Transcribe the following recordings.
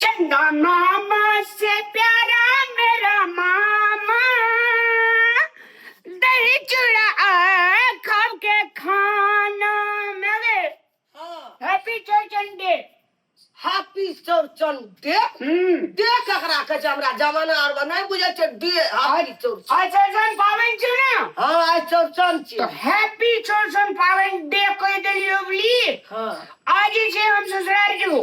चंदा मामा से प्यारा मेरा मामा दही चूड़ा आ, खा के खाना मेरे happy Chaurchan day happy Chaurchan day हम्म डे ककरा कहै छै हमरा जमाना आर मे नहि बुझै छै डे हैप्पी चौरचन आज चौचन पावन छौ ना हँ आइ चौरचन तो छियै हैप्पी चौचन पावन डे कह देलियो बोली हँ आज जे छै हम ससुराल जेबो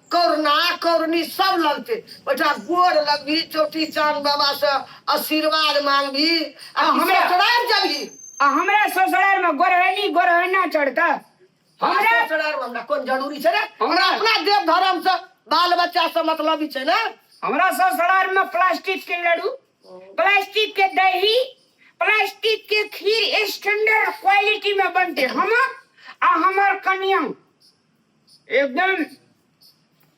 करुणा करुणी सब लगते ओहिठाम गोर लगबी चौटी चांद बाबा से आशीर्वाद मांगबी आ आ हमरा- ससुराल जबी आ हमरा ससुराल में गोरहनी गोरहना चढ़ता हमरा हमरा ससुराल में हमरा कोन जरूरी छै रे हमरा हमरा- अपना देव धर्म से बाल बच्चा से मतलब छै ने हमरा ससुराल में प्लास्टिक के लड्डू प्लास्टिक के दही प्लास्टिक के खीर स्टैंडर्ड क्वालिटी में बनते हम आ हमर कन्या एकदम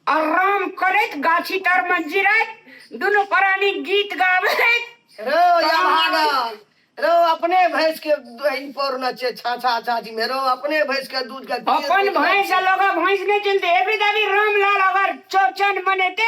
आराम करैत गाछी तर में जिरैत दुनू प्राणी गीत गाबैत रो या भागल रो अपने भैंस के दही पर न छे छा छा छा जी मेरो अपने भैंस के दूध के अपन भैंस लगा भैंस नहीं चिनते एबरी दाबी रामलाल अगर चौचन मनेते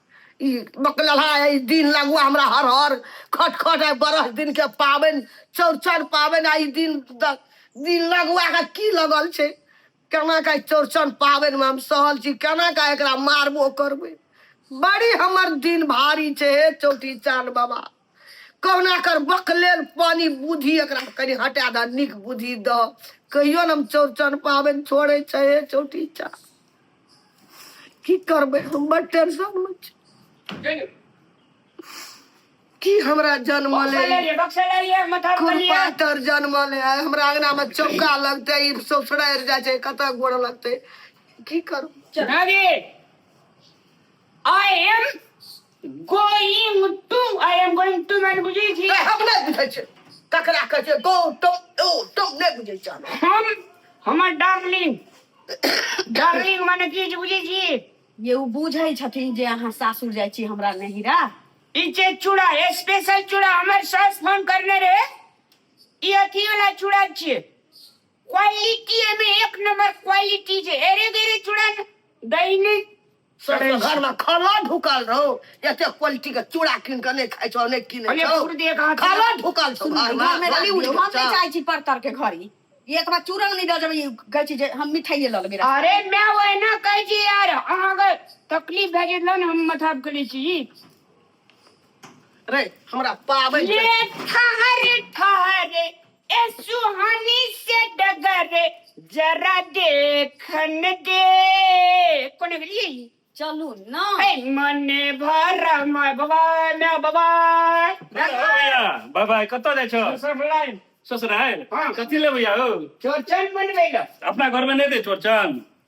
ई बकलहा ई दिन लगुआ हमरा हर हर खट खट आइ बरस दिन के पाबनि चौड़चन पाबनि आ ई दिन द- दिन लगुआ के की लगल छै केना के चौड़चन पाबनि में हम सहल छी केना के एकरा मारबो करबै बड़ी हमर दिन भारी छै हे चौठी चान बाबा कहुना कर बक लेल पानी बुद्धि एकरा कनि हटा द निक बुद्धि द कहियो ने हम चौरचन पाबनि छोड़े छै हे चौटी चा की करबै हम बड़ टेंशन में छी की हमरा जन्म ले कुरपातर जन्म ले हमरा अंगना में चौका लगते ई ससुरारि जाय छै कतऽ गोड़ लगते की करू चल I am going to I am going to मैंने बुझी थी तऽ हम नहि बुझै छियै ककरा कहै छै गो टम ओ टम नहि बुझै छियै हम। हम हमर डार्लिंग डार्लिंग मैंने की चीज बुझी थी ये ओ बुझै छथिन जे अहाँ सासुर जाइ छी हमरा नहिरा ई छै चूड़ा स्पेशल चूड़ा हमर सास फोन करने रहे ई अथी वाला चूड़ा छियै क्वालिटी एमे एक नंबर क्वालिटी छै एरे बेरे चूड़ा न- दही नहि सर अरे, घर में खाना ढुकल रहो एते क्वालिटी के चूड़ा कीन के नहीं खाई छो नहीं कीने अरे, छो। कुर्दी एक हाथ- खाना ढुकल छो घर में घर में रहली उड़ी हम नहीं जाओ। चाहे छी पर तर के घरी एक बार चूरन नहीं लऽ जेबै कहै छी जे हम मिठाइए लऽ लेबै रास्ता। अरे मैं ओहिना कहै छी यार अहाँके तकलीफ भए जेतल ने हम मथा करै छी जी रे हमरा पावे ले ठहर ठहर ए सुहानी से डगर जरा देखन दे कोने गेलिए चलू ना ए मने भर माय बाबा ना बाबा भैया बाय बाय कतऽ जाइ छौ सब लाइन ससुराल हाँ। कथी लेबै यौ चोचन बनबै लऽ अपना घरमे नहि दे चौरचन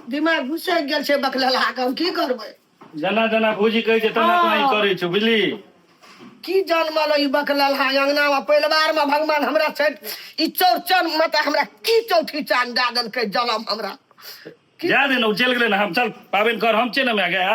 दिमाग घुसैक गेल छै बकलेला के हम की करबै जेना जेना भूजी कहै छै तेना तेना ई हाँ। करै छै बुझली की जनमल ई बकलेला अंगना में परिवार में भगवान हमरा छै ई चौरचन में तऽ हमरा की चौठी चान दए देलकै जलम हमरा जा दे ना चल गेले ना हम चल पाबन कर हम चल ना गया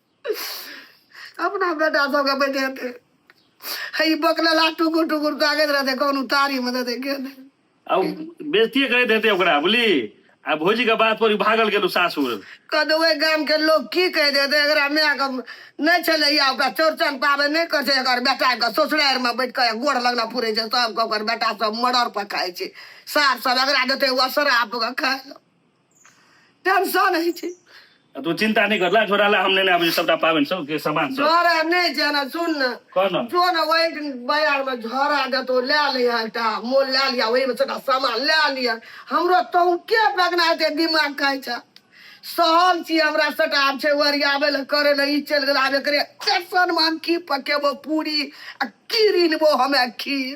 अपना बेटा सबके बैठेते है ई बकलेला टुकुर टुकुर ताकैत रहते कौन उतारी में देते के दे। आ उ बेजतिये करैत हेतै ओकरा बुझली आ भौजी के बात पर इ भागल गेलू सासुर कद ओहि गाम के लोग की कह देते एकरा माय के नहीं छले या ओकरा चौड़चन पाबे नहीं कर छै एकर बेटा के ससुरार में बैठ के गोड़ लगना पुरे छै सबके ओकर बेटा सब मर्डर पर खाए छै सार सब एकरा देते ओ शराब के खाए टेंशन होइ छै आ तू चिंता नहीं करला छोरा ला हम लेने आबे सबटा पाबनि सब के सामान सब डर है नहि जाना सुन ने कह न जो ने वही दिन बाजार में झोरा देतो ले लिया एकटा मोल ले लिया वही में छोटा सामान ले लिया हमरो तू के बगना हेतै दिमाग कहै छै सहल छी हमरा सटा आब छै ओरियाबै लए करै लए ई चलि गेल आब एकरे टेंशन में हम की पकेबो पूरी आ की रिनबो हमे खीर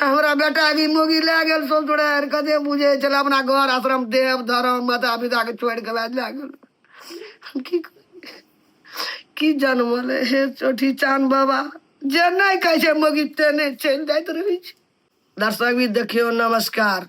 हमरा बेटा भी मोगी लए गेल ससुर कते बुझे छल अपना घर आश्रम देव धर्म माता पिता के छोड़ के बाद लए गेल हम की की जनमल हे चोठी चान बाबा जे नहीं कहे मोगी ते नहीं चल जात रही दर्शक भी देखियो नमस्कार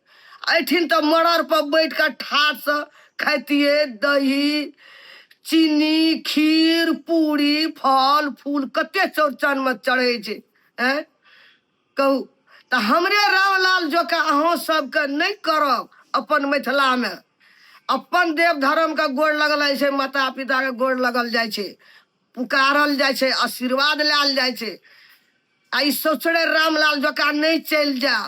एहिठिन तऽ मड़र पर बैठ कऽ ठाट से खाइतिए दही चीनी खीर पूरी फल फूल कते चौड़चन में चढ़े छै हैं कहू तऽ हमरे रामलाल जोका अहाँ सबके नहि करब अपन मिथिला में अपन देव धर्म के गोड़ लगल जाइ छै माता पिता के गोड़ लगल जाइ छै पुकारल जाइ छै आशीर्वाद लायल जाइ छै आ ई सोचड़े रामलाल जोका नहि चलि जायब